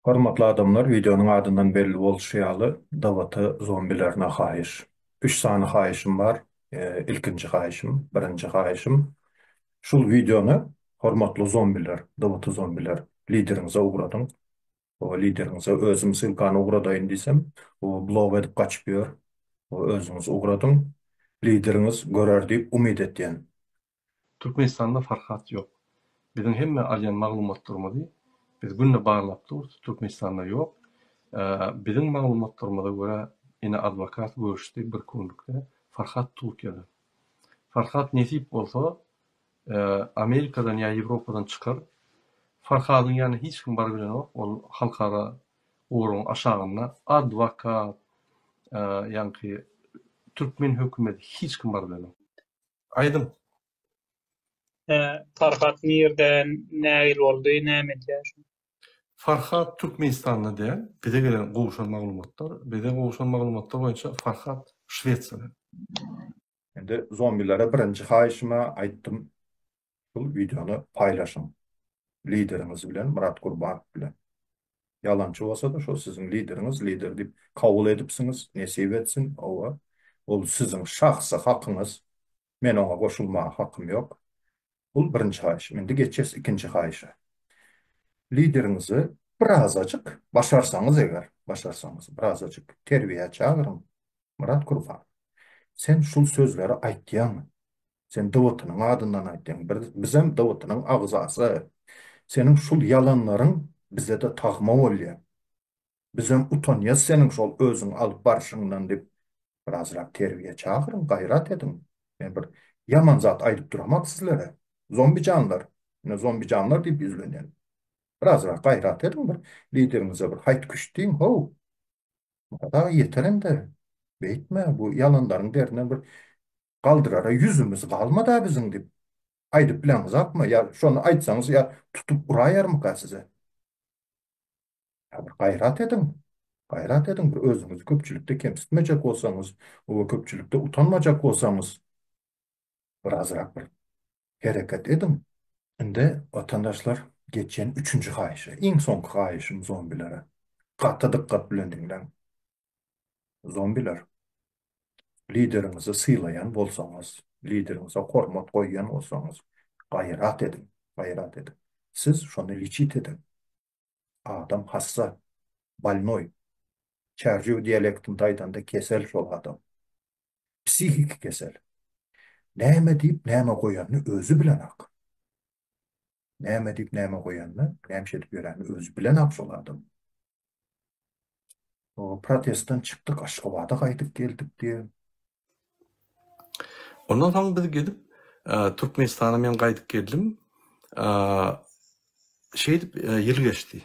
Hormatly adamlar wideonyň adyndan belli bolşy ýaly Dawata zombilerine haýyş. Üç sany haýyşym bar ilkinji haýyşym birinji haýyşym şul wideony hormatly zombiler Dawata zombiler lideriňize ugradyň lideriňize özüm sylkany ugradaýyn diýsem blok edip gaçyp ýör özüňiz ugradyň lideriňiz görer diýip umyt etýän Türkmenistanda farhat ýok. Biziň hemme alýan maglumatlarymyzy biz günde barlap durus Türkmenistanda ýok. Biziň maglumatlarymyza görä ine adwokat görüşdi bir kunlukde Farhat Turkiýada. Farhat nesip bolsa Amerikadan ýa Ýewropadan çykar. Farhadyň ýanyna hiç kim barybilenok ol halkara goragyň aşagynda adwokat ýaňky Türkmen hökümeti hiç kim barybilenok. Aýdyň. Hä, Farhat nirden nägil boldy, näme edýär şu? Farhat Türkmenistanda däl. Bize gelen gowşan maglumatlar, bize gowşan maglumatlar boýunça Farhat Şwesiýada. Indi zombilere birinji haýyşyma aýtdym. Şul wideony paýlaşyň lideriňiz bilen Myrat Gurbanow bilen. Ýalançy bolsada şo siziň lideriňiz lider diýip kabul edipsiňiz nesip etsin owa ol siziň şahsy hakyňyz men oňa goşulmaga hakym ýok bul birinji haýyşym indi geçýäs ikinji haýyşa lideriňizi birazajyk başarsaňyz eger başarsaňyz birazajyk terbiýä çagyryň Myrat Gurbanow sen şul sözleri aýtýaňmy Sen Dawutynyň adyndan aýtdyň. Bizem Dawutynyň agzasy. Seniň şul ýalanlaryň bize-de tagma bolýar. Bizem utanýas seniň şol özüň alyp barşyňdan diýip, birazrak terbiýe çagyryň, gaýrat ediň. Men bir ýaman zat aýdyp duramok sizlere. Zombijanlar, ine zombijanlar diýip ýüzlenýän. Birazrak gaýrat ediň bir, lideriňize bir haýt-küşt diýiň, how! Murad aga ýeter indi. Beýtme, bu ýalanlaryň derine bir galdyrara ýüzümiz galmad-a biziň diýip, aýdyp bileňizakmy? Ýa şony aýtsaňyz, ýa tutup uraýarmyka size? Ýa bir gaýrat ediň! Gaýrat ediň, bir özüňizi köpçülikde kemsitmejek bolsaňyz, o köpçülikde utanmajak bolsaňyz, bir azyrak bir hereket ediň! Indi, watandaşlar, geçýän üçünji haýyşa, iň soňky haýyşym zombilere. Gaty dykgat bilen diňläň. Zombiler. Lideriňizi sylaýan bolsaňyz, lideriňize hormat goýýan bolsaňyz, gaýrat ediň, gaýrat ediň. Siz şony liçit ediň. Adam hassa, bolnoý. Çärjew dialektinde aýdanda kesel şol adam. Psihiki kesel. Näme diýip, näme goýanyny özi bilenok. Näme diýip näme goýanyny, näme iş edip ýöränini özi bilenok şol adam. O protestden çykdyk, Aşgabada gaýdyp geldik diýýär. Ondan soň biz gelip, Türkmenistana men gaýdyp geldim. Şeýdip ýyl geçdi.